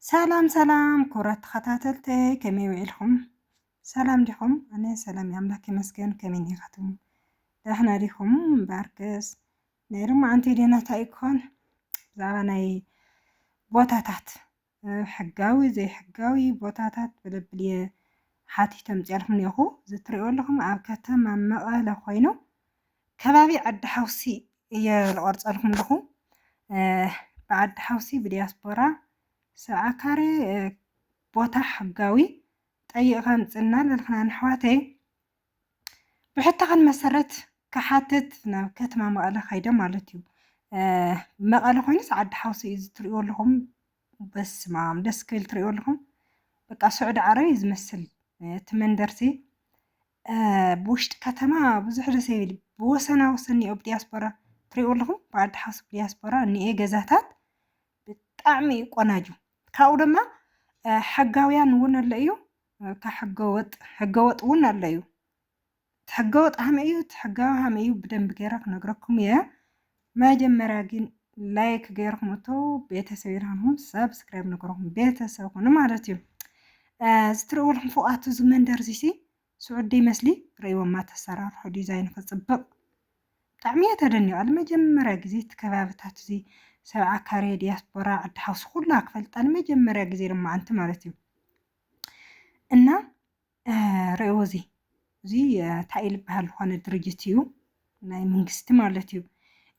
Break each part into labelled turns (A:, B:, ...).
A: ሰላም ሰላም ክቡራት ተኸታተልተይ ከመይ ውዒልኩም? ሰላም ዲኹም? ኣነ ሰላም ኣምላክ ይመስገን። ከመይ ዲኻትኩም? ዳሕና ዲኹም? ባርክስ ናይ ሎማዓንቲ ዴና እንታይ ክኾን ብዛዕባ ናይ ቦታታት ሕጋዊ ዘይሕጋዊ ቦታታት ብለብል እየ ሓቲቶም ፅያልኩም እኒኹ እዚ ትሪእዎ ኣለኹም ኣብ ከተማ መቐለ ኮይኑ ከባቢ ዓዲ ሓውሲ እየ ዝቆርፀልኩም ኣለኹ ብዓዲ ሓውሲ ብዲያስፖራ ሰብዓ ካሬ ቦታ ሕጋዊ ጠይቕካ ምፅና ለልክና ንሕዋተይ ብሕታኻን መሰረት ክሓትት ናብ ከተማ መቐለ ካይደ ማለት እዩ መቐለ ኮይኑስ ዓዲ ሓውሲ እዩ ዝትሪእዎ ኣለኹም በስማም ደስ ክብል ትሪእዎ ኣለኹም በቃ ስዑዲ ዓረብ እዩ ዝመስል እቲ መንደርሲ ብውሽጢ ከተማ ብዙሕ ደስ ኣይብል ብወሰና ወሰን እኒኦ ብዲያስፖራ ትሪኡ ኣለኹም ብዓዲ ሓሱብ ዲያስፖራ እኒኤ ገዛታት ብጣዕሚ እዩ ቆናጁ ካብኡ ድማ ሕጋውያን እውን ኣሎ እዩ ካብ ሕገወጥ ሕገወጥ እውን ኣሎ እዩ እቲ ሕገወጥ ሃመ እዩ እቲ ሕጋዊ ሃመ እዩ ብደንብ ገይረ ክነግረኩም እየ መጀመርያ ግን ላይክ ገይርኩም እቶ ቤተሰብ ይርሃንኩም ሰብስክራይብ ንገርኩም ቤተሰብ ኩኑ ማለት እዩ ዝትርእዎ ኣለኹም ፎቃቱ እዚ መንደር እዚሲ ስዑዲ ይመስሊ ርእይዎማ ተሰራርሑ ዲዛይን ክፅብቕ ብጣዕሚ እየ ተደኒቐ ንመጀመርያ ግዜ እቲ ከባብታት እዚ ሰብዓ ካሬ ዲያስፖራ ዓዲ ሓውሲ ኩላ ክፈልጣ ንመጀመርያ ግዜ ድማ ኣንቲ ማለት እዩ እና ርኣይዎ እዚ እዚ እንታይ እዩ ዝበሃል ዝኾነ ድርጅት እዩ ናይ መንግስቲ ማለት እዩ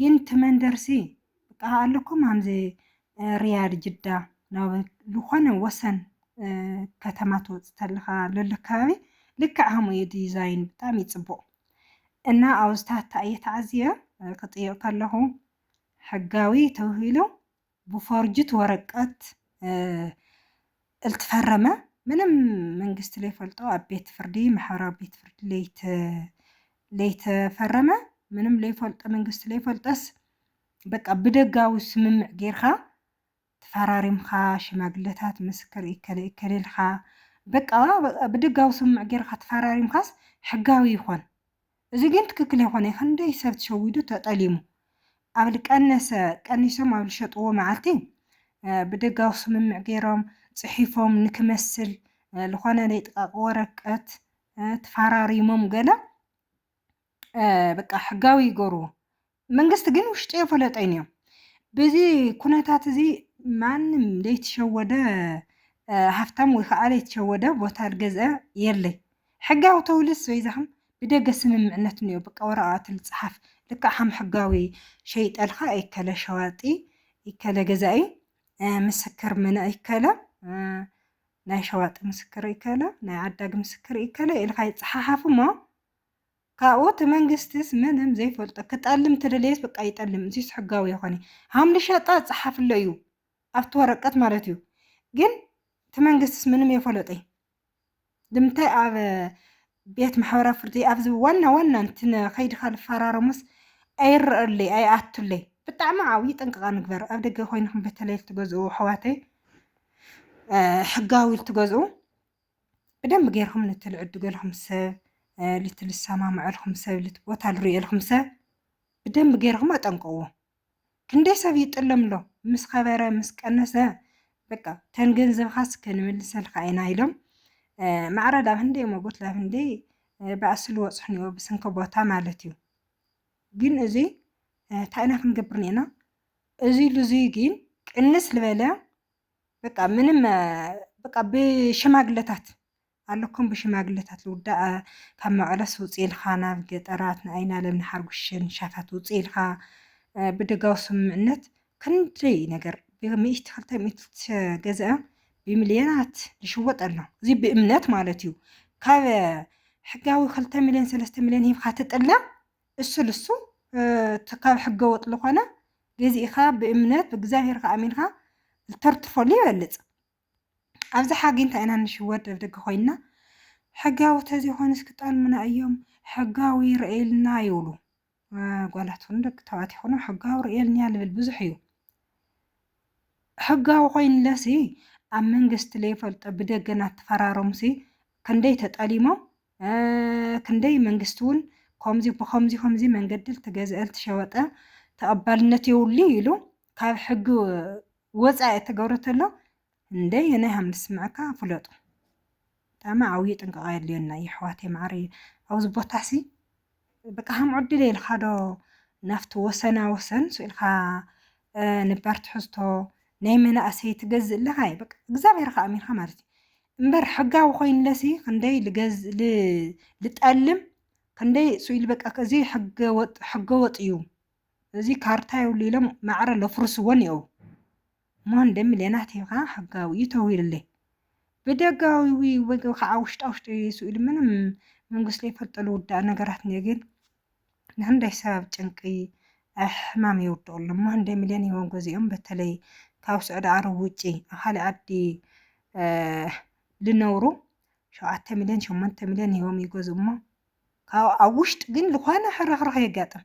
A: ግን እቲ መንደርሲ በቃ ኣለኩም ሃምዚ ርያድ ጅዳ ናብ ዝኾነ ወሰን ከተማ ትወፅእ ተለኻ ለሎ ከባቢ ልክዕ ሃሙ እዩ ዲዛይን ብጣዕሚ እዩ ፅቡቕ እና ኣብዝታት እየ ተዓዝየ ክጥይቕ ከለኹ ሕጋዊ ተብሂሉ ብፎርጅት ወረቀት እልትፈረመ ምንም መንግስቲ ለይፈልጦ ኣብ ቤት ፍርዲ ማሕበራዊ ቤት ፍርዲ ለይተፈረመ ምንም ለይፈልጦ መንግስቲ ለይፈልጠስ በቃ ብደጋዊ ስምምዕ ጌርካ ተፈራሪምካ ሽማግለታት ምስክር እከለ እከለ ኢልካ በቃ ብደጋዊ ስምምዕ ጌርካ ተፈራሪምካስ ሕጋዊ ይኾን። እዚ ግን ትክክል የኮነይ ክንደይ ሰብ ትሸዊዱ ተጠሊሙ ኣብ ልቀነሰ ቀኒሶም ኣብ ልሸጥዎ መዓልቲ ብደጋዊ ስምምዕ ገይሮም ጽሒፎም ንክመስል ልኮነ ለይጥቃቂ ወረቀት ትፋራሪሞም ገለ በቃ ሕጋዊ ይገርዎ መንግስቲ ግን ውሽጢ የፈለጠይን እዮም ብዚ ኩነታት እዚ ማንም ዘይተሸወደ ሃፍታም ወይ ከዓ ዘይተሸወደ ቦታ ዝገዝአ የለይ ሕጋዊ ተውልስ በይዛኹም ብደገ ስምምዕነት እኒኦ በቃ ወረቃቅቲ ልፅሓፍ ልክዕ ከም ሕጋዊ ሸይጠልካ ይከለ ሸዋጢ ይከለ ገዛኢ ምስክር ምነ ይከለ ናይ ሸዋጢ ምስክር ይከለ ናይ ዓዳጊ ምስክር ይከለ ኢልካ ይፀሓሓፍ እሞ ካብኡ እቲ መንግስትስ ምንም ዘይፈልጦ ክጠልም ተደለየስ በቃ ይጠልም እዚስ ሕጋዊ የኾነ ሃምሊ ሸጣ ጸሓፍሎ እዩ ኣብቲ ወረቀት ማለት እዩ ግን እቲ መንግስትስ ምንም የፈለጠይ ልምታይ ኣብ ቤት ማሕበራ ፍርዲ ኣብዚ ዋና ዋና እንትን ከይድካ ዝፈራረሙስ ኣይረኣለይ ኣይኣቱለይ ብጣዕሚ ዓብዪ ጥንቅቃ ንግበር ኣብ ደገ ኮይንኩም በተለይ ትገዝኡ ኣሕዋተይ ሕጋዊ ትገዝኡ ብደንብ ገይርኩም ነቲ ልዕድገልኩም ሰብ ልቲ ልሰማምዐልኩም ሰብ ልቲ ቦታ ልርእየልኩም ሰብ ብደንብ ገይርኩም ኣጠንቀዎ ክንደይ ሰብ ይጥለም ኣሎ ምስ ከበረ ምስ ቀነሰ በቃ ተን ገንዘብካስ ክንምልሰልካ ኢና ኢሎም ማዕረ ዳብ ህንደይ ሞጎት ላብ ህንደይ ብኣሲ ልወፅሑኒኦ ብስንኪ ቦታ ማለት እዩ ግን እዚ እንታይ ኢና ክንገብር ኔና እዚ ልዙይ ግን ቅንስ ልበለ በቃ ምንም በቃ ብሽማግለታት ኣለኩም ብሽማግለታት ልውዳእ ካብ መቐለስ ውፅ ኢልካ ናብ ገጠራት ንኣይና ለም ንሓርጉሽን ሻታት ውፅ ኢልካ ብደጋዊ ስምምዕነት ክንደይ ነገር ብሚእቲ ክልተ ሚእቲ ዝተገዝአ ብሚልዮናት ዝሽወጥ ኣሎ እዚ ብእምነት ማለት እዩ ካብ ሕጋዊ ክልተ ሚልዮን ሰለስተ ሚልዮን ሂብካ ትጥለም እሱ ልሱ እቲ ካብ ሕገ ወጥ ልኾነ ገዚእኻ ብእምነት ብእግዚኣብሔርካ ኣሚንካ ልተርትፈሉ ይበልጽ። ኣብዚ ሓጊ እንታይ ኢና ንሽወድ ደብደገ ኮይንና ሕጋዊ ተዘይኮኑስ ክጠልሙና እዮም ሕጋዊ ይረእየልና ይብሉ ጓላት ይኹኑ ደቂ ተባዕት ይኹኑ ሕጋዊ ርእየልንያ ልብል ብዙሕ እዩ ሕጋዊ ኮይንለሲ ኣብ መንግስቲ ለይፈልጦ ብደገና ተፈራረሙሲ ክንደይ ተጠሊሞም ክንደይ መንግስቲ እውን ከምዚ ብከምዚ ከምዚ መንገዲ ልትገዝአ ልትሸወጠ ተቐባልነት የብሉን ኢሉ ካብ ሕጊ ወፃኢ እተገብረ ተሎ እንደየናይ ሃም ንስምዐካ ፍለጡ። ብጣዕሚ ዓብዩ ጥንቃቐ የድልየና የሕዋተይ መዓረይ ኣብዚ ቦታሲ በቃ ከምኡ ዕድል ኢልካ ዶ ናብቲ ወሰና ወሰን ስኢልካ ነባር ትሕዝቶ ናይ መናእሰይ ትገዝእ ኣለኻ እዩ በቃ እግዚኣብሔር ከ ኣሚንካ ማለት እዩ እምበር ሕጋዊ ኮይንለሲ ክንደይ ልገዝ ልጠልም ክንደይ ስኢል በቃ እዚ ሕገ ወጥ ሕገ ወጥ እዩ እዚ ካርታ የብሉ ኢሎም ማዕረ ለፍርስዎን እዩ ሞንደ ምልዮናት ሂብካ ሕጋዊ እዩ ተዊልለይ ብደጋዊ ወይ ከዓ ውሽጣ ውሽጢ ስኢሉ ምንም መንግስት ዘይፈልጦ ልውዳእ ነገራት እኒኦ ግን ንክንደይ ሰብ ጭንቂ ሕማም የውድቑ ኣሎ ሞንደ ምልዮን ሂቦም ገዚኦም በተለይ ካብ ስዑዲ ዓረብ ውጪ ኣብ ካልእ ዓዲ ልነብሩ ሸውዓተ ሚልዮን ሸሞንተ ሚልዮን ሂቦም ይገዝኡ እሞ ካብ ኣብ ውሽጢ ግን ዝኾነ ሕርኽርኽ የጋጥም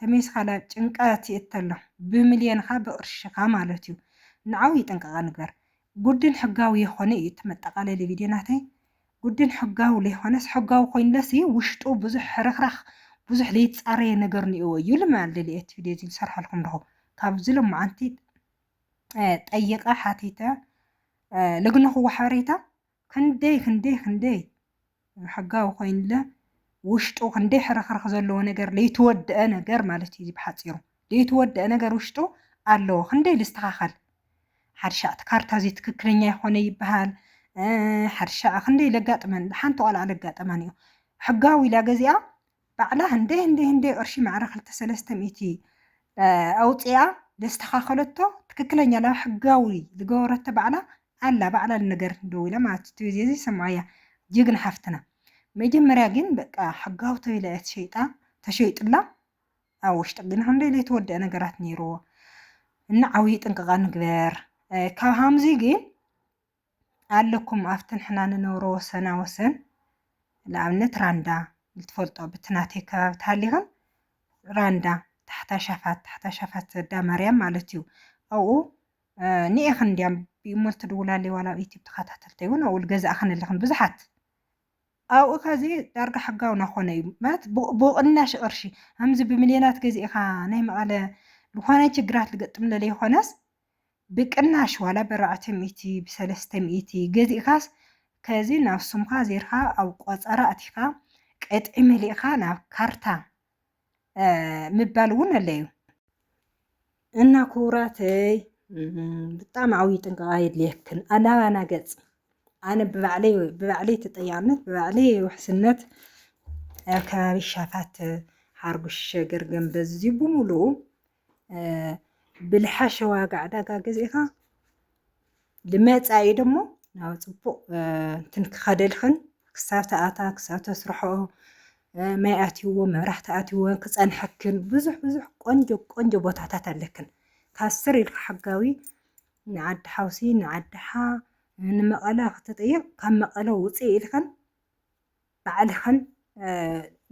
A: ተሜስካ ናብ ጭንቀት ይእተ ኣሎ ብምልየንካ ብቅርሽካ ማለት እዩ ንዓውይ ጥንቃቀ ንግበር ጉድን ሕጋዊ የኮነ እዩ እቲ መጠቃለሊ ቪድዮ ናተይ ጉድን ሕጋዊ ለይኮነስ ሕጋዊ ኮይንለሲ ውሽጡ ብዙሕ ሕርክራክ ብዙሕ ለይትፃረየ ነገር ንእዎ እዩ ልማል ደልየ እቲ ቪድዮ እዚ ልሰርሐልኩም ኣለኩ ካብዚ ሎማዓንቲ ጠይቀ ሓቲተ ለግነክዎ ሓበሬታ ክንደይ ክንደይ ክንደይ ብሕጋዊ ኮይንለ ውሽጡ ክንደይ ሕርኽርኽ ዘለዎ ነገር ለይተወደአ ነገር ማለት እዩ ብሓፂሩ ለይተወደአ ነገር ውሽጡ ኣለዎ ክንደይ ልስተኻኸል ሓድሻዕቲ ካርታ እዚ ትክክለኛ ይኾነ ይበሃል ሓድሻዕ ክንደይ ለጋጥመን ሓንቲ ቆልዓ ለጋጠመን እዩ ሕጋዊ ኢላ ገዚኣ ባዕላ ህንደይ ህንደይ ህንደይ ቅርሺ ማዕረ ክልተ ሰለስተ ሚእቲ ኣውጺኣ ዘስተኻኸለቶ ትክክለኛ ናብ ሕጋዊ ዝገበረቶ ባዕላ ኣላ ባዕላ ልነገረትኒ ደዊላ ማለት እቲ ቪድዮ እዚ ሰምዓያ ጅግና ሓፍትና መጀመርያ ግን በቃ ሕጋዊ ተቢላ እያ ተሸይጣ ተሸይጡላ ኣብ ውሽጢ ግን ክንደይ ዘይተወደአ ነገራት ነይርዎ እና ዓብዪ ጥንቅቓ ንግበር ካብ ሃምዚ ግን ኣለኩም ኣብቲ ንሕና ንነብሮ ወሰና ወሰን ንኣብነት ራንዳ ልትፈልጦ ብቲ ናተይ ከባቢ ተሃሊኽን ራንዳ ታሕታ ሻፋት ታሕታ ሻፋት ዘዳ ማርያም ማለት እዩ ኣብኡ ንኤኽን እንዲያም ብእሞ ልትድውላለይ ዋላ ኣብ ዩቲብ ተኸታተልተይ እውን ኣብኡ ልገዛእኽን ኣለኽን ብዙሓት ኣብኡ ካዚ ዳርጋ ሕጋዊ ናኾነ እዩ ማለት ብቕናሽ ቅርሺ ኣምዚ ብምልዮናት ገዚእኻ ናይ መቐለ ዝኾነ ችግራት ልገጥም ለለይኾነስ ብቅናሽ ዋላ በራዕተ ሚእቲ ብሰለስተ ሚእቲ ገዚእካስ ከዚ ናብ ስምካ ዜርካ ኣብ ቆጸራ ኣቲካ ቅጥዒ መሊእካ ናብ ካርታ ምባል ውን ኣለዩ። እና ኩቡራተይ ብጣዕሚ ዓብይ ጥንቃቀ የድልየክን ኣላባና ገጽ ኣነ ብባዕለይ ብባዕለይ ተጠያቅነት ብባዕለይ ውሕስነት ኣብ ከባቢ ሻፋት ሓርጉሽ ሸገር ገንበዝ እዚ ብምሉኡ ብልሓሸ ዋጋ ዕዳጋ ገዚእኻ ንመፃኢ ደሞ ናብ ፅቡቕ እንትን ክኸደልኽን ክሳብ ተኣታ ክሳብ ተስርሐኦ ማይ ኣትይዎ መብራህቲ ኣትይዎ ክፀንሐክን ብዙሕ ብዙሕ ቆንጆ ቆንጆ ቦታታት ኣለክን ካብ ስር ኢልካ ሕጋዊ ንዓዲ ሓውሲ ንዓዲ ሓ ንመቐለ ክትጥይቕ ካብ መቐለ ውፅእ ኢልኽን ባዕልኽን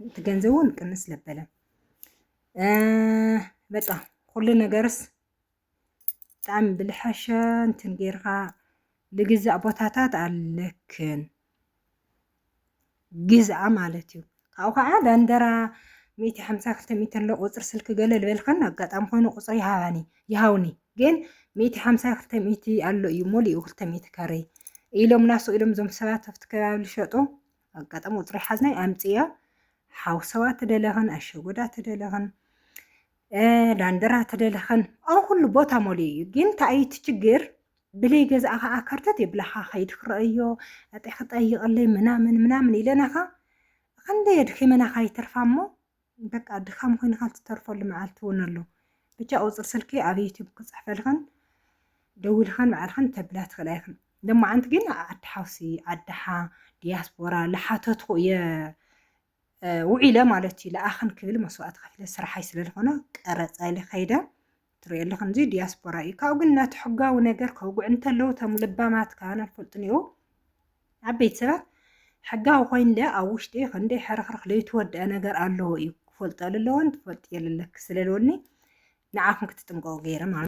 A: እቲ ገንዘብ እውን ቅንስ ለበለ በቃ ኩሉ ነገርስ ብጣዕሚ ብልሐሸ እንትን ጌርካ ልግዛእ ቦታታት ኣለክን ግዝኣ ማለት እዩ ካብኡ ከዓ ዳንደራ ሚእቲ ሓምሳ ክልተ ሚእቲ ኣሎ ቁፅሪ ስልኪ ገለ ልበልክን ኣጋጣሚ ኮይኑ ቁፅሪ ይሃባኒ ይሃውኒ ግን ሚእቲ ሓምሳ ክልተ ሚእቲ ኣሎ እዩ ሞሊኡ ክልተ ሚእቲ ካሬ ኢሎም ናሱ ኢሎም ዞም ሰባት ኣብቲ ከባቢ ልሸጡ ኣጋጣሚ ቁፅሪ ሓዝናይ ኣምፅያ ሓውሰዋ ትደለኽን ኣሸጎዳ ትደለኽን ዳንደራ ትደለኽን ኣብ ኩሉ ቦታ ሞሊኡ እዩ ግን እንታይ እቲ ችግር ብለይ ገዛኣ ከዓ ከርተት የብላኻ ከይድ ክረአዮ ኣጢ ክጠይቐለይ ምናምን ምናምን ኢለናኻ ክንደይ ኣድኺመናኻ ይተርፋ እሞ በቃ ድኻም ኮይንካ ትተርፈሉ መዓልቲ እውን ኣሎ። ብቻ ቁፅሪ ስልኪ ኣብ ዩቱብ ክፅሕፈልኽን ደዊልኻን ባዕልኽን ተብላ ትኽእላ ኢኽን። ሎማዓንቲ ግን ዓዲ ሓውሲ፣ ዓዲ ሓ፣ ዲያስፖራ ላሓተትኹ እየ ውዒለ ማለት እዩ። ልኣኽን ክብል መስዋእቲ ከፊለ ስራሓይ ስለልኾነ ቀረፃ ኢለ ከይደ ትሪኦ ኣለኹ እዚ ዲያስፖራ እዩ ካብኡ ግን ነቲ ሕጋዊ ነገር ከውግዕ እንተለዉ እቶም ልባማት ካን ኣይፈልጡን እዩ ኣብ ቤት ሰባት ሕጋዊ ኮይንለ ኣብ ውሽጢ ክንደይ ሕርኽርኽ ለይትወድአ ነገር ኣለዎ እዩ ክፈልጦ ኣለዎን ትፈልጥ የለለክ ስለለወኒ ንዓኹም ክትጥንቀቑ ገይረ ማለት